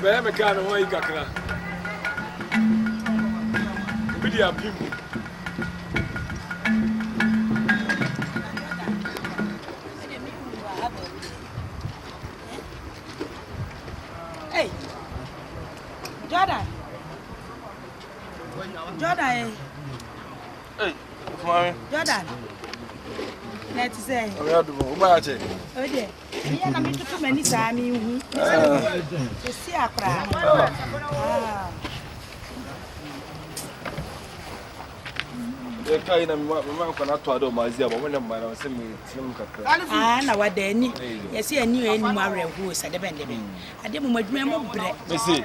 bɛyɛ me kaa ne ho ayi kakra obi de apem mu Jordan. Jordan yɛ. Ee, ofumami. Jordan. Na ti sɛ. Ɔbɛ yɛ dubu, o ba yɛ akyɛ. O deɛ, mi yɛ na mi tutu mɛ ni saa mi hu. Sisi akora. Yɛ ka yi na mi ma mi ma nkɔ na to ado ma zi abo mo na mma na ɔsɛ mi ti mu kakra. Aa na wa da ani yɛ si ani yɛ ni mu awɛ hu sɛ dɛbɛn dɛbɛn. Ade mu ma adwuma mu brɛ. Mesi.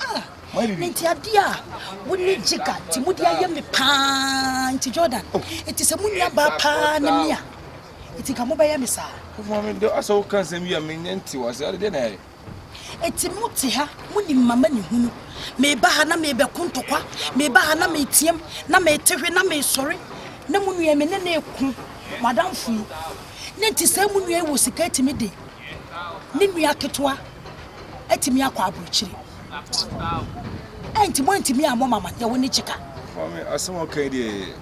Ah, nti adeɛ a wo ne Jigga nti mode ayɛ me paa nti Jordan nti sɛ mo nua baa paa ne me a nti ka mobɛyɛ me saa. Kofuma me dɔ asɛ wo ka nsɛm yi a me nyɛ nti wɔ ase ade deɛ na ɛyɛ. Eti mo te ha mo nim mama ne hunu meba ha na mebɛko ntɔkwa meba ha na meteam na mete hwe na mesɔre na mo nua me ne ne ko mo adamfo yi ne nti sɛ mo nua yi wɔ sika atumi de ne nua ketewa atumi akɔ aburokyire. Ɛnti mo antumi ammɔ mama deɛ wo ne kyeka. Maame asɛm ɔka yi deɛ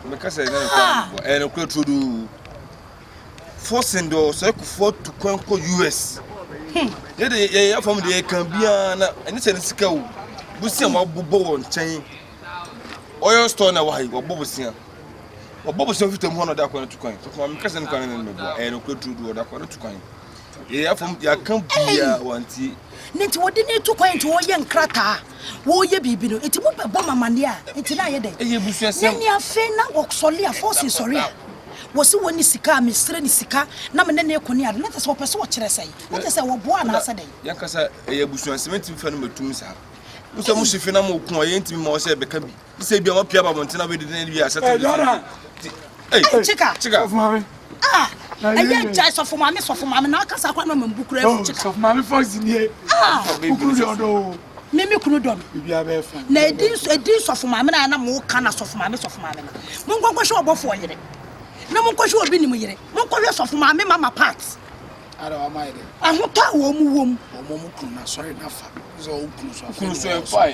mɛka sɛ ɛna nokora ah! bɔ ɛna nokora turo doo. Fɔsin dɔ sɛ kufuɔ tu kwan kɔ US. Hmm. Yɛ de yɛ yɛ fam deɛ kan biara na ɛne sɛ ne sika o. Bosia ma bobɔ wɔ nkyɛn. Oil store na wɔ ha yi wɔbɔ bosia. Wɔbɔ bosia fitam hɔ na ɔde akɔ no tu kwan. Maame kasa no kwan no na mɛbɔ ɛna nokora turo doo ɔde akɔ no tu kwan. na nti wɔde no to kwan nti wɔyɛ nkrataa wɔyɛ biribi no nti mobɛbɔ mamaneɛ a nti na ayɛ dɛn na ne afei na wɔsɔle a fɔse sɔre a wɔsi wɔn ne sika a mesrɛ ne sika na me ne ne ko ne ade na kyɛ sɛ wɔpɛ sɛ wɔkyerɛ sɛn na kyɛ sɛ wɔboa anaasɛ dɛn yɛnkasa ɛyɛ abusuasɛm ntimi fa no matum saa wosɛ mo hyefe na mo ko a yɛntimi ma wɔsɛ ɛbɛka bi sɛ ebia wɔapia ba abɔnten na wɔadidi na ebia asɛte bi so kyika kyika ah ɛyɛ nkyɛn sɔfo maame sɔfo maame na ɔkasa akora na ɔma mbu kura ɛfu kyika sɔfo maame fɔsi nie ah kukuru deɛ ɔdɔ o mímí kunu dɔ mi na edi edi sɔfo maame na anam wo kan na sɔfo maame sɔfo maame na mo nkɔnkɔ hwɛ ɔbɔfo ɔyere na mo nkɔhwɛ obi nim yere mo nkɔhwɛ sɔfo maame mama part. Ahotɔ a wɔn wom. Okunu so ɛfae.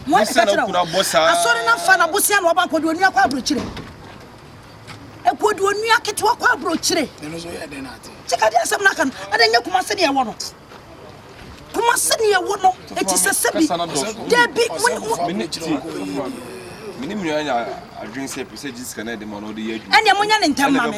Bosia na okunu abɔ saa. Asɔre na fa na bosia na ɔba kɔdi onua kɔ aburokyire. Ekɔdi onua ketewa kɔ aburokyire. Kyekadi asɛm n'aka no ɛna nye kumase ne ɛwɔ no. Kumase ne ɛwɔ no eti sɛ sɛbi dɛbi mu. Mene mìíràn yà adwene sɛ pèsè gyi sika na ɛde ma na ɔde yɛ adwuma. Ɛna mo nya ne ntɛm ma mi.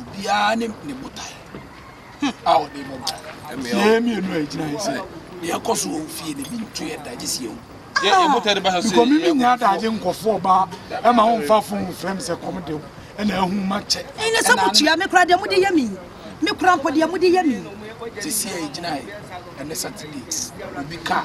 obiara ne ne botae a ɔde bɔ bra yɛn mmienu a ɛgyina yɛ sɛ deɛ ɛkɔ so wɔ fie no bi nto yɛ da gye sɛ yɛwu bikɔ me menya adagye nkɔfoɔ baa ɛma wo mfa fo mfrɛ m sɛ kɔm de wo ɛna ahu makyɛ ɛnyɛ sɛ mokyia me kora deɛ mode yɛ me me kora mpo deɛ mode yɛ me sɛsi a ɛgyina yɛ ɛnɛ saturday obi kaa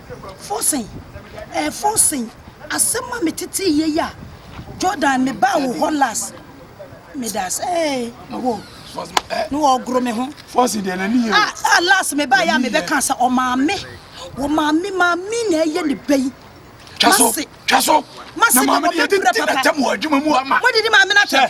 Forson, eh, Forson, asɛm a metetee yɛ yi a, Jordan, mebaa wo hɔ last. Meda ase, eh, wo, ne wɔgoro me ho. Forson deɛ n'ani yɛ. Ah, ah, last mebaa yɛ a mebɛka sɛ ɔmaame, wɔ maame, maame na ɛyɛ ne bɛ yi. Twa so, twa so. Mase, na maame deɛ tete na tɛm wɔ adwuma mu ama. Mo didi maame na tɛm.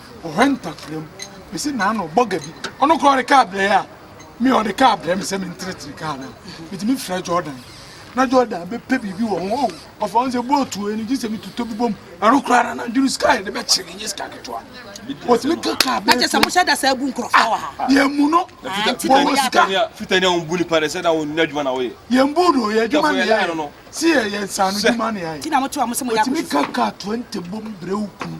ɔhwɛ ntakra mu. Mese naano bɔga bi. Ɔno koraa ɔde kaa brɛ yɛ a, me ɔde kaa brɛ me sɛ mentenetene kaa no a, metumi frɛ Jordan. Na Jordan bɛpɛ biribi wɔ ho. Oh, ɔfa ho sɛ bootu wei no gye sɛ metotɔ bi bom. Ɛno koraa na nadwene sika yɛde bɛkyere nyɛ sika ketewa. Wɔtumi ka kaa brɛ. Na kyɛ sɛ mohyɛ da saa bu nkurɔfoɔ wɔ ha. Yɛn mu no, wɔwɔ sika. Fitani a wɔbu nipa dɛ sɛ na wɔn adwuma na wɔyɛ. Yɛn bu no, yɛn adwuma na yɛyɛ. Si yɛ yɛn nsaano adwuma na yɛyɛ. Wɔtumi ka kaa 20 bom brɛ wo kunu.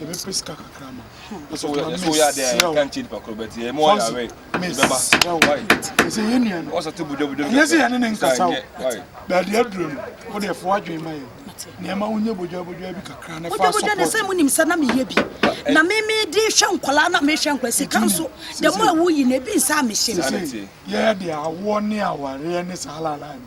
yɛbɛpɛ sika kakra ma ɛsɛ ɔtɔ na mesrɛ wo mesrɛ wo ɛsɛ yɛ nua no ɛnyɛ sɛ yɛne ne nkasa o baabi aduro no wode ɛfo adwene ma yɛ nneɛma wonyɛ bodwabodwa bi kakra ne fa sɔpɔt ne sɛ monim sɛ na meyɛ bi na memede hwɛ nkɔlaa na mehwɛ nkɔla sika nso dɛ mo a woyi no ebi nsa a mehye no yɛyɛ de awoɔ ne awareɛ ne saa lalae no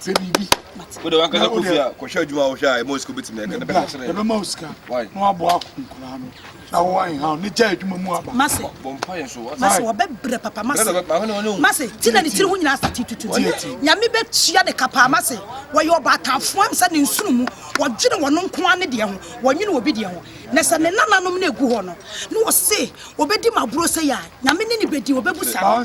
sɛ biribi wode wankasa kɔ fie a kɔhwɛ adwuma a wohwɛ a ɛma osika wobɛtumi ɛka na bɛka kyerɛ ɛbɛma wo sika na waboa ako nkoraa no na wowa nhaw ne gya adwuma mu aba mase bɔmpayɛ so mase wɔbɛbrɛ papa mase mase ti na ne tiri ho nyinaa sate tutu nyame bɛtua ne kapaa mase wɔyɛ ɔbaatafoɔ am sɛ ne nsono mu wɔdwene wɔn nkoa ne deɛ ho wɔnwene obi deɛ ho na sɛ ne nananom no ɛgu hɔ no na wɔse wɔbɛdi maborɔ sɛ yɛ a nyame ne ne bɛdi wɔbɛbu saa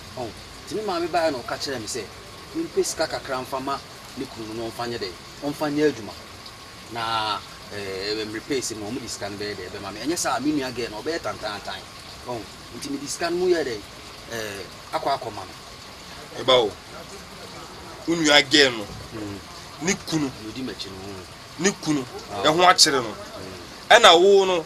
Ɔho. Enti ne maame baeɛ na ɔka kyerɛɛ me sɛ mempɛ sika kakra mfa ma ne kunu no na ɔmfa nyɛ dɛn, ɔmfa nyɛ adwuma na ɛɛ mmere pɛɛ sɛ mu a wɔde sika no bɛyɛ dɛn, bɛma me. Ɛnyɛ saa a, me nua gɛɛ no, ɔbɛyɛ tantaantan. Ɔho. Enti mede sika no mu yɛɛ dɛn, ɛɛ akɔ akɔma no. Ɛba o, wo nua gɛɛ no, ne kunu, ne kunu, ɛho akyere no, ɛna wo no.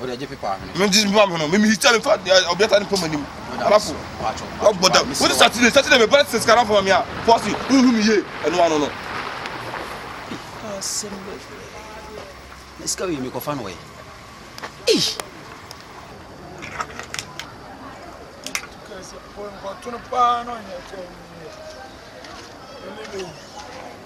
Mede mpa me ho no, memihita me fa ɔbeata ne pam anim. Alafo, ɔbɔ da. Wode Saturday, Saturday me bɛrɛ sisi kara fama me a, fɔsi, wohu me yie, ɛno ano no. Asɛm bɛbrɛ. Sika wei mekɔfa no wɔ yi. Ei! Porque no pano,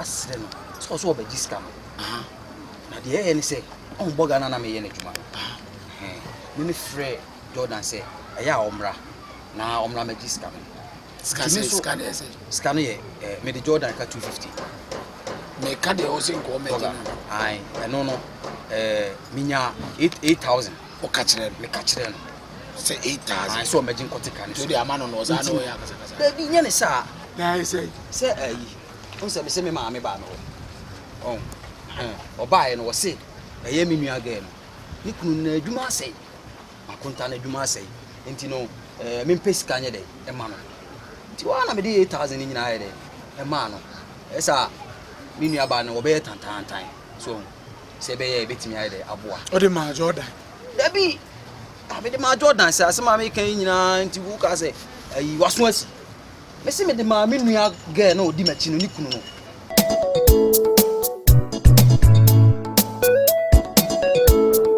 asrɛ no sɛ ɔsɛ ɔbɛgye sika no na deɛ ɛyɛ ne sɛ ɔmbɔ ghana na meyɛ no adwuma no me me frɛ jordan sɛ ɛyɛ a ɔmmra na ɔmmra mɛgye sika no sika no yɛ mede jordan ka 250 meka deɛ ɔsɛ nkɔɔ mɛgye no ɛno no menya 8000 ɔka kyerɛ no meka kyerɛ no sɛ 8000 sɛ ɔmɛgye nkɔte ka no so ama no no ɔsaa na ɔyɛ akasakasa baabi nyɛ ne saa sɛ ayi Wohu sɛ mese me maame baa me hɔ. Ɔho, ɛhɛn, ɔbaeɛ no wɔse ɛyɛ me nua girl no, ne kunu no n'adwuma asɛe. Makonta no adwuma asɛe. Nti no ɛɛ mempɛ sika nyɛ dɛn ɛma no. Nti hɔ ara na mede eight thousand no nyinaa ayɛ dɛn ɛmaa no. Ɛyɛ sɛ a me nua baa no ɔbɛyɛ tantaantan. So ɔho, sɛ ɛbɛyɛ a yɛbɛtumi ayɛ dɛn aboa. Wode maa Jordan? Dabi! Ah, mede maa Jordan sɛ asɛm a meka yi nyinaa nti wokaa sɛ ayi w'aso asi. Mese mede maa me nua girl na odi m'akyi no ne kunu no.